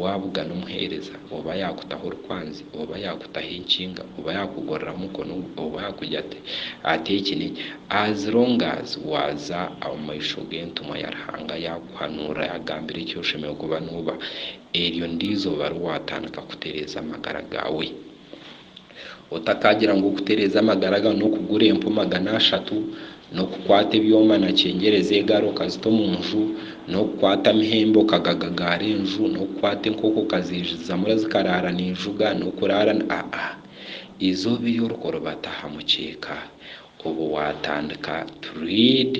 Waabugana omuheereza, oba yaakutaho orukwanzi, oba yaakutaho enkinga, oba yaakugorora mukono gwe, oba yaakugira ati, Ata eki n'eki, as long as waaza omu maisho g'entumwa ya Ruhanga yaakuhanuurira yaakugambira eki oshemereire kuba nooba, eryo ndizooba ri waatandika kutereeza amagara gaawe. Otakaagira ngu okutereeza amagara gaawe n'okugura empu magana ashatu, n'okukwata ebyoma na kyengyereza egari okazita omu nju, n'okukwata amahembe okagagagaara enju, n'okukwata enkoko okazeejuzamu zikaraara niijuga, n'okuraara ni, aa-a. Eizooba eri orikuribata aha mukyeeka, obu waatandika to read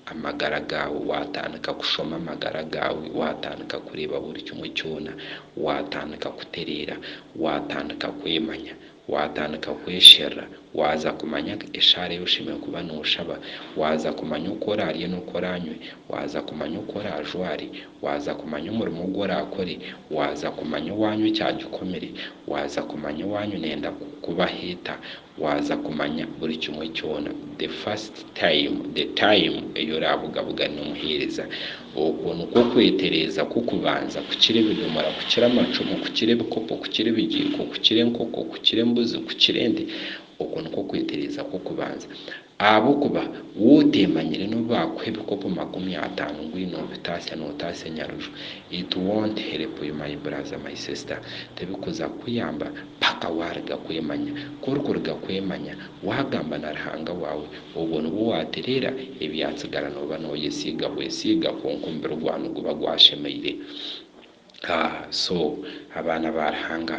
amagara gaawe, waatandika kushoma amagara gaawe, waatandika kureeba buri kimwe kyona, waatandika kutereera, waatandika kwemanya, waatandika kwesherura, waaza kumanya eshaara ei oshemereire kuba nooshaba, waaza kumanya oku oraarye n'oku oraanywe, waaza kumanya oku oraajware, waaza kumanya omurimo ogu oraakore, waaza kumanya owaanywa ekyagikomire, waaza kumanya owaanywa nenda kukubaho eta, Waaza kumanya buri kimwe kyona the first time, the time ei oraabugabuga n'omuheereza. Okwo nikwo kwetereeza kw'okubanza kukira ebidomora, kukira amacumu, kukira ebikopo, kukira ebigiiko, kukira enkoko, kukira embuzi, kukira ente. Okwo nikwo kwetereeza kw'okubanza. Ahabw'okuba wowe oteemanyire n'obu baakuha ebikopo makumi ataano ngu oine obutaasya nootaasa enyaruju, it won't help you my brother, my sister, tibikuza kukuyamba paka waariga kwemanya. Ku orikuriga kwemanya, waagamba na Ruhanga waawe, obwo nibwo waatereera, ebyatsigara nooba nooyesiiga bwesiiga kwonka omubiri gwawe niguba gwashemeire. Ahh so abaana ba Ruhanga.